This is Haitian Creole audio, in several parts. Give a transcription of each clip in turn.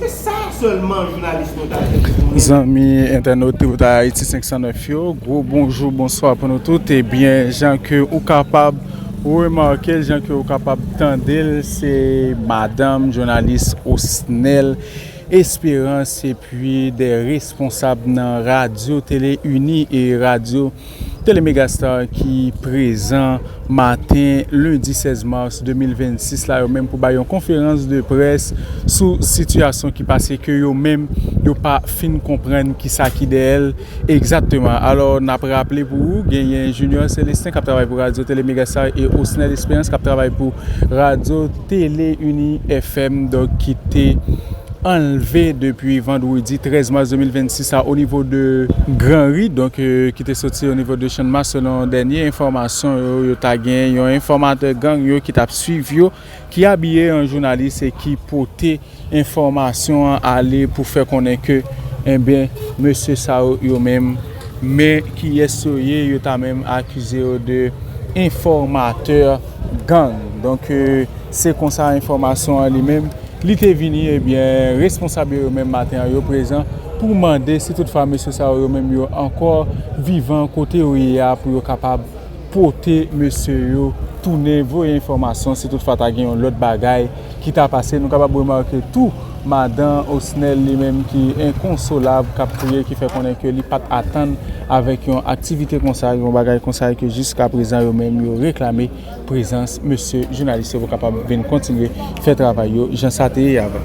Se sa selman jounalis nou ta jwenn pou nou. Zanmi entènot Tripotay Haiti 509 yo, gwo bonjou, bonswa pou nou tout. Ebyen, eh jan ke ou kapab remake l, jan ke ou kapab tande l, se madanm jounalis Osnel Esperance epi de responsab nan Radyo Tele Ini e Radyo. Tele Megastar ki prezan maten lendi 16 mars 2026 la yo menm pou bay yon konferans de près sou sitiyasyon ki pase ke yo menm yo pa fin konprann ki sa ki dèyè l egzatteman. Alò n ap raple pou ou genyen Junior Celestin k ap travay pou radyo Tele Megastar e Osnel Esperans k ap travay pou radyo. Tele Uni FM donk ki te anlve depi vandredi 13 mas 2026 la onivo de gran ri donk ki te soti onivo de channmas selon dènye enfòmasyon yo yo ta gen yon enfòmatè gang yo ki t ap swiv yo ki abiye an jounalis e ki pote Enfòmasyon an ale pou fè konnen ke enben mesye sa yo yo menm men kiyès yo ye yo ta menm akize yo de enfòmatè gang donk se konsa enfòmasyon an li menm li te vini ebyen responsab yo yo menm maten an yo prezan pou mande si tout fwa mesye sa yo yo menm yo ankò vivan kote yo ye a pou yo kapab pote mesye yo tounen voye enfòmasyon si tout fwa ta gen yon lòt bagay ki ta pase, nou kapab remake tou madan Osnel li menm ki enkonsolab k ap kriye ki fè konnen ke li pa t atann avèk yon aktivite konsa, yon bagay konsa e ke jiskaprezan yo menm yo reklame prezans mesye jounalis yo pou kapab vin kontinye. Fè travay yo jan sa te ye avan.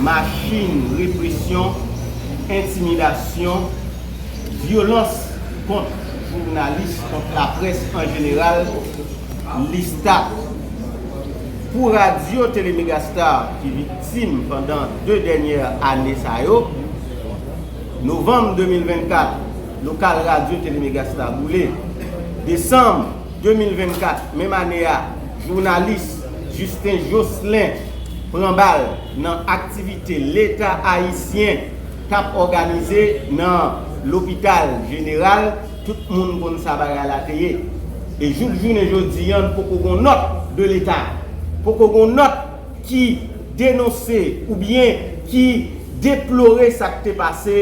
Machin represyon, entimidasyon, vyolans kont jounalis, kont laprès an jeneral, lista pou radyo Tele Megastar ki viktim pandan 2 dènyè ane sa yo. Novanm 2024, lokal radyo Tele Megastar boule. Desanm. 2024, menm ane a, jounalis Justin Jocelin pran bal nan aktivite Leta Ayisyen t ap òganize nan Lopital Jeneral, tout moun konn sa bagay la te ye. E jouk jounen jodi an poko gon nòt de Leta, poko gon nòt ki denonse oubyen ki deplore sa k te pase.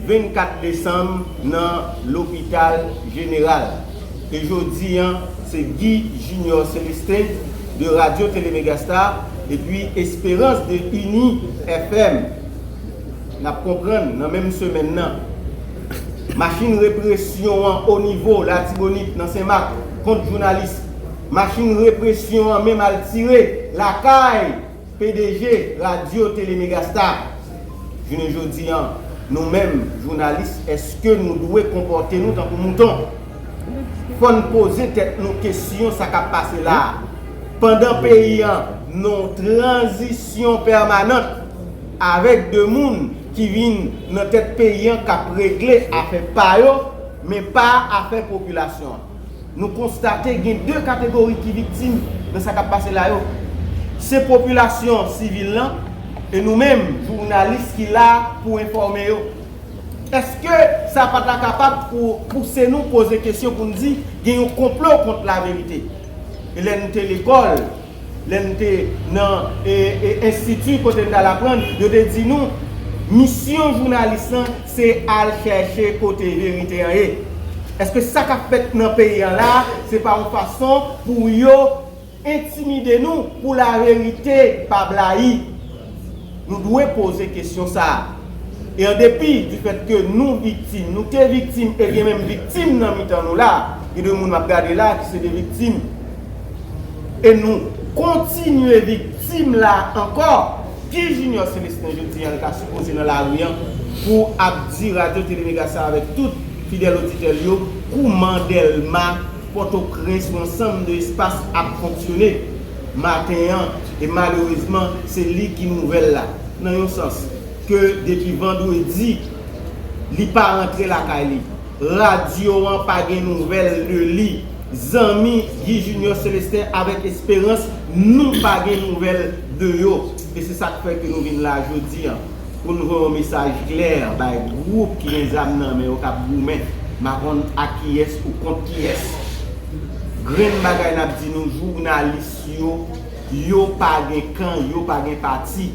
24 desanm nan lopital jeneral. E jodi an se Guy Junior Celestin de Radio Télé Megastar epi Esperance de Uni FM. N ap konprann nan menm semèn nan machin represyon an onivo Latibonit nan Sen Mak kont jounalis, machin represyon an menm al tire lakay. Pdg radio tele megastar jounen jodi an nou menm jounalis eske nou dwe konpòte nou tankou mouton fòn poze tèt nou kesyon sa kap pase la pandan peyi an non tranzisyon pèmanant avèk de moun ki vin nan tèt peyi an kap regle afè pa yo men pa afè popilasyon an. Nou konstate gen 2 kategori ki viktim nan sa k ap pase la yo. Se popilasyon sivil lan e nou menm jounalis ki la pou enfòme yo. Eske sa pa ta kapab pouse nou poze kesyon pou n di gen yon konplo kont laverite? Lè nou te lekòl, Lè m te nan enstiti kote m t al aprann, yo te di nou, Misyon jounalis lan se al chèche kote verite an ye. Èske sa k ap fèt nan peyi an la a se pa yon fason pou yo entimide nou pou laverite pa blayi? Nou dwe poze kesyon sa a. E an depi difèt ke nou viktim, nou te viktim e gen menm viktim nan mitan nou la a. Gen de moun m ap gade la a ki se de viktim. E nou kontinye viktim la ankò. Ki Junior Celestin jodi an l ta sipoze nan lari an pou ap di radyo tele mega sa avèk tout fidèl oditè l yo kouman Dèlma, Pòtoprens ou ansanm de espas ap fonksyone maten an e malerezman se li ki nouvèl la nan yon sans ke depi vandredi li pa rantre lakay li. Radyo an pa gen nouvèl de li. Zanmi Guy Junior Celestin avèk Esperans nou pa gen nouvèl de yo e se sak fè ke nou vin la jodi an pou nou voye yon mesaj klè bay gwoup ki gen zam nan men yo kap goumen makonn ak kiyès ou kont kiyès grenn bagay nap di nou jounalis yo yo pa gen kan yo pa gen pati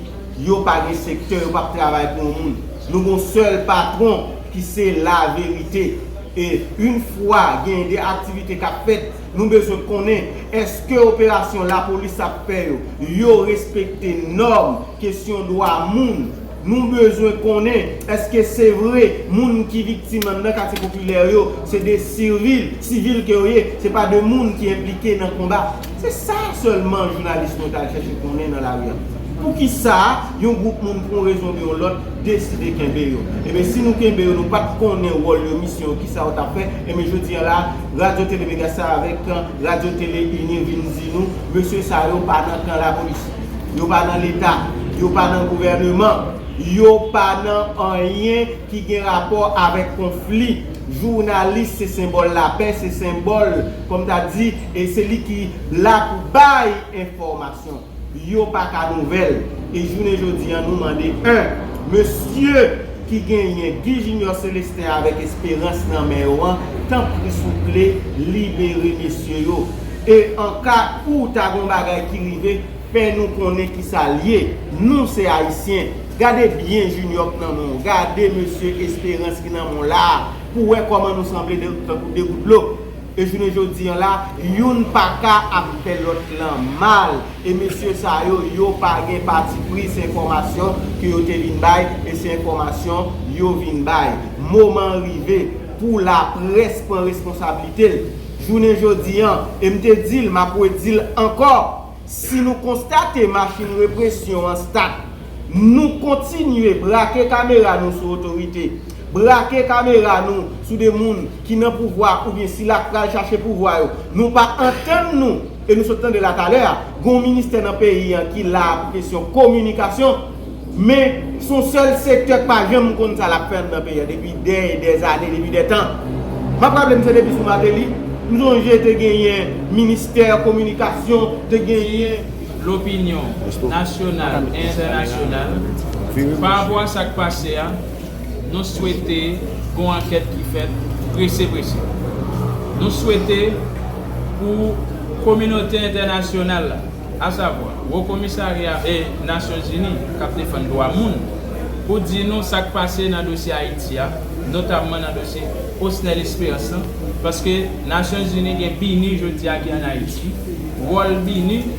yo pa gen sektè yo pap travay pou yon moun nou gon sèl patron ki se la verite. E yn fwa gen de aktivite kap fèt, nou bezwen konnen eske operasyon lapolis ap fè yo, yo respekte nòm kesyon dwa moun, nou bezwen konnen eske se vre moun ki viktim anndan katye popilè yo se de sirvil, sivil ke yo ye, se pa de moun ki enplike nan konba. Se sa sèlman jounalis mwen t al chèche konnen nan lari a. Poukisa yon gwoup moun pou yon rezon oubyen yon lòt deside kenbe yo? Enben si nou kenbe yo nou pa t konnen wòl yo, misyon yo, kisa yo t ap fè, enben jodi an la a Radyo Tele Megastar avèk Radyo Tele Ini vin di nou mesye sa yo pa nan kan lapolis, yo pa nan leta, yo pa nan gouvèneman, yo pa nan anyen ki gen rapò avèk konfli. Jounalis se senbòl lapè, se senbòl kòm ta di. E se li ki la pou bay enfòmasyon. Yo pa ka nouvèl. E jounen jodi an nou mande 1. Mesye ki genyen Guy Junior Celestin avèk Esperans nan men yo an, tanpri souple libere mesye yo. E an ka ou ta gon bagay ki rive, fè nou konnen ki sa l ye. Nou se Ayisyen. Gade byen Junior k nan men w. Gade mesye Esperans ki nan men w la a pou w wè kòman nou sanble tankou 2 gout dlo. E jounen jodi an la, youn pa ka ap fè lòt lan mal. E mesye sa yo, yo pa gen patipri, se enfòmasyon ke yo te vin bay e se enfòmasyon yo vin bay. Moman an rive pou laprès pran responsablite l. Jounen jodi an, e m te di l, m ap redi l ankò, Si nou konstate machin represyon an stat, nou kontinye brake kamera nou sou otorite, brake kamera nou sou de moun ki nan pouvwa oubyen sila k pral chache pouvwa yo. Nou pa antann nou, e nou sot tande la talè a, gon ministè nan peyi an ki la pou kesyon kominikasyon, Men, son sèl sektè k pa janm konn sa lap fè anndan peyi a depi dè e dè zane, depi dè tan. Map raple m se depi sou Mateli, m sonje te genyen ministè kominikasyon, te genyen. Lopinyon, nasyonal e entènasyonal, pa rapò a sak pase a, nou swete gon ankèt ki fèt prese prese. Nou swete pou kominote entènasyonal la. asavwa Wo Komisarya Nasyonzini k ap defann dwa moun, pou di nou sa k pase nan dosye Ayiti a, notamman nan dosye Osnel Esperans lan, paske Nasyonzini gen BINUH jodi a ki ann Ayiti, wòl BINUH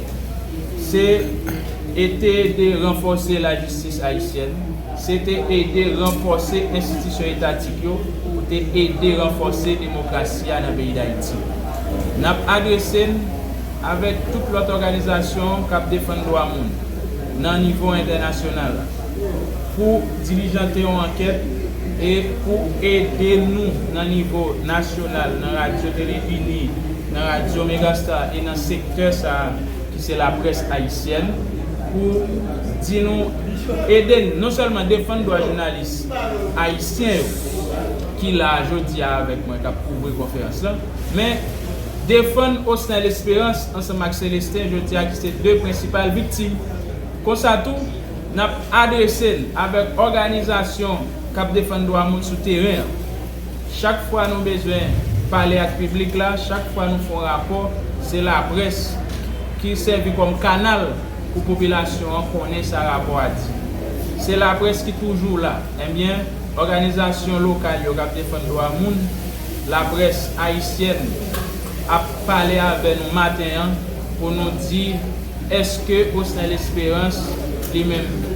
se e te ede ranfòse lajistis ayisyèn, se te ede ranfòse enstitisyon etatik yo pou te ede ranfòse demokrasi a nan peyi Dayiti. N ap adrese n. avèk tout lòt òganizasyon k ap defann dwa moun nan nivo entènasyonal pou dilijante yon ankèt e pou ede nou nan nivo nasyonal nan radyo Televini, nan radyo Megastar e nan sektè sa a ki se laprès ayisyèn pou di nou ede n non sèlman defann dwa jounalis ayisyen yo ki la a jodi a avèk mwen k ap kouvri konferans lan men defann Osnel Esperance ansanm ak Celestin jodi a ki se 2 prensipal viktim. Konsa tou, n ap adrese n avèk òganizasyon k ap defann dwa moun sou teren an. Chak fwa nou bezwen pale ak piblik la, chak fwa nou fè yon rapò, se laprès ki sèvi kòm kanal pou popilasyon an konnen sa rapò a di. Se laprès ki toujou la. Enbyen, òganizasyon lokal yo k ap defann dwa moun, Laprès ayisyèn ap pale avè nou maten an pou nou di eske Osnel Esperance li menm tou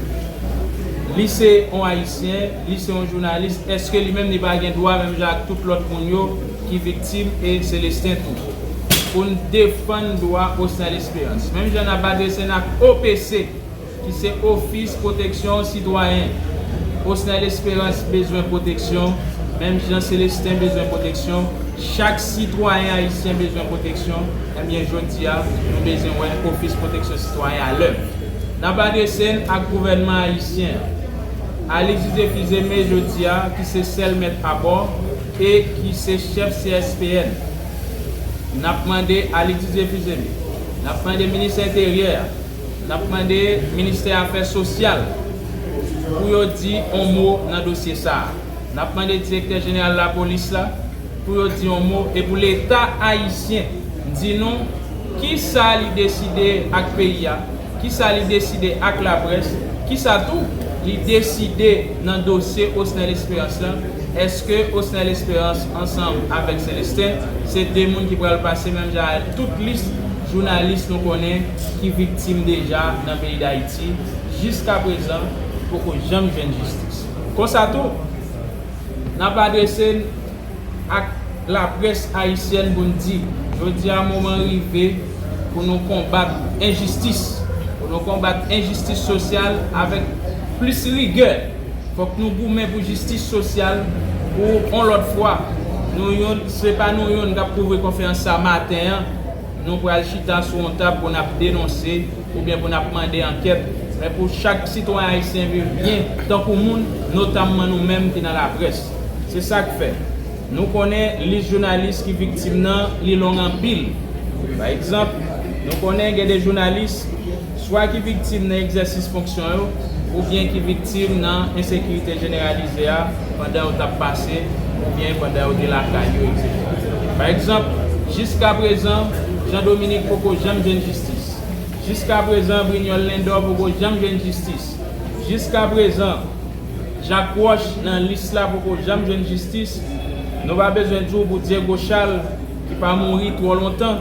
li se yon ayisyen, li se yon jounalis eske li menm li pa gen dwa menm jan ak tout lòt moun yo ki viktim e Celestin tou pou n defann dwa Osnel Esperance menm jan n ap adrese n ak OPC. ki se Ofis Pwoteksyon Sitwayen. Osnel Esperance bezwen pwoteksyon, menm jan Celestin bezwen pwoteksyon, chak sitwayen ayisyen bezwen pwoteksyon, ebyen jodi a nou bezwen wè Ofis Pwoteksyon Sitwayen a lè. N ap adrese n ak gouvènman ayisyen an. Alix Didier Fils-Aimé jodi a ki se sèl mèt abò e ki se chèf CSPN. N ap mande Alix Didier Fils-Aimé, n ap mande Minis Enteryè a, N ap mande Ministè Afè Sosyal pou yo di on mo nan dosye sa a. N ap mande Direktè Jeneral Lapolis la pou yo di on mo e pou Leta Ayisyen di nou ki sa li deside ak peyi a, ki sa li deside ak laprès, ki sa tou li deside nan dosye Osnel Esperans lan. Eske Osnel Esperans ansanm avèk Celestin se 2 moun ki pral pase menm jan ak tout lis? Jounalis nou konnen ki viktim deja nan peyi Dayiti jiskaprezan poko janm jwenn jistis. Konsa tou, n ap adrese n ak laprès ayisyèn pou n di, jodi a moman rive pou nou konbat enjistis, pou nou konbat enjistis sosyal avèk plis rigè. Fòk nou goumen pou jistis sosyal pou on lòt fwa. Nou youn, se pa nou youn k ap kouvri konferans sa maten an. Nou pral chita sou yon tab pou n ap denonse oubyen pou n ap mande ankèt, men pou chak sitwayen ayisyen viv byen tankou moun, notamman nou menm ki nan laprès. Se sa k fè, nou konnen lis jounalis ki viktim nan, li long anpil. Pa egzanp, nou konnen gen de jounalis. swa ki viktim nan egzèsis fonksyon yo oubyen ki viktim nan ensekirite jeneralize a pandan yo t ap pase oubyen pandan yo te lakay yo, eksetera. Pa egzanp, jiskaprezan, Jean Dominique poko janm jwenn jistis. Jiskaprezan, Brignol Lindor poko janm jwenn jistis. Jiskaprezan, Jacques Roche, nan lis la, poko janm jwenn jistis. Nou pa bezwen di w pou Diego Charles, ki pa mouri twò lontan.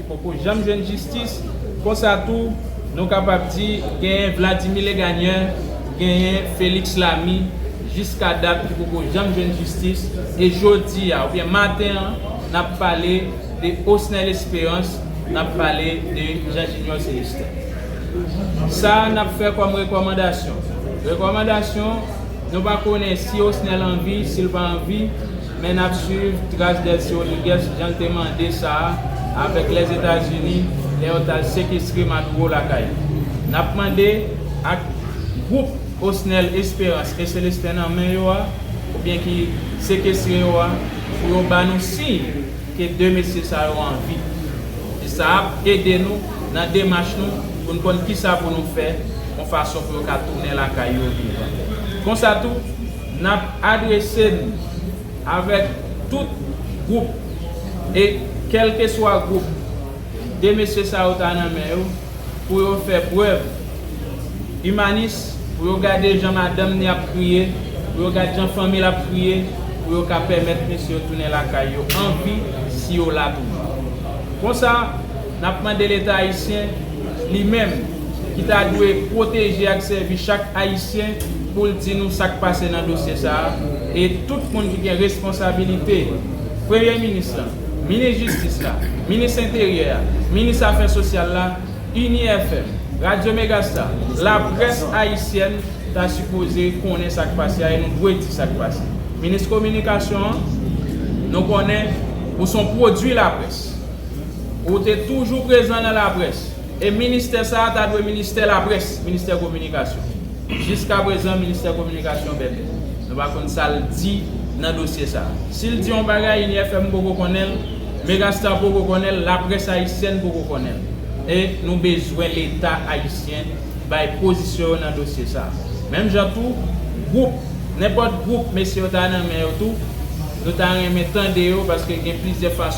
Poko janm jwenn jistis, konsa tou nou kapab di genyen Vladimir Legagneur, genyen Felix Lamy jiska dat ki poko janm jwenn jistis e jodi a oubyen maten an nap pale de Osnel Esperance, nap pale de Jean Junior Celestin. Sa nap fè kòm rekòmandasyon, rekòmandasyon nou pa konnen si Osnel anvi, sil pa anvi, Men nap swiv tras Delcy Rodriguez jan l te mande sa avèk Lèzetazini lè yo tal sekestre Maduro lakay li. Nap mande ak gwoup Osnel Esperance e Celestin nan men yo a oubyen ki sekestre yo a pou yo ba nou siy ke 2 mesye sa yo an vi. E sa ap ede nou nan demach nou pou n konn kisa pou nou fè yon fason pou yo ka tounen lakay yo vivan. Konsa tou. N ap adrese n avèk tout gwoup e kèlkeswa gwoup 2 mesye sa yo ta nan men yo pou yo fè prèv imanis, pou yo gade jan madanm ni ap kriye, pou yo gad jan fanmi l ap kriye, pou yo ka pèmèt mesye yo tounen lakay yo an vi si yo la toujou. Konsa. N ap mande Leta ayisyen, li menm, ki ta dwe pwoteje ak sèvi chak Ayisyen, pou l di nou sa k pase nan dosye sa a, e tout moun ki gen responsabilite, Premye Minis lan, Minis Jistis la, Minis Enteryè a, Minis Afè Sosyal la, UniFM, Radyo Megasta, laprès ayisyèn ta sipoze konnen sa k pase a e nou dwe di sa k pase. Minis Kominikasyon an, nou konnen ou s on pwodui laprès. Ou te toujou prezan nan laprès. E ministè sa a ta dwe ministè laprès, ministè kominikasyon. Jiskaprezan ministè kominikasyon bèbè. Nou pa konn sa l di nan dosye sa a. Si l di yon bagay, INIFM poko konnen l, Megastar poko konnen l, laprès ayisyèn poko konnen l. E nou bezwen leta ayisyen bay pozisyon yo nan dosye sa a. Menm jan tou, gwoup, nenpòt gwoup mesye yo ta nan men yo tou, nou ta renmen tande yo paske gen plizyè fason.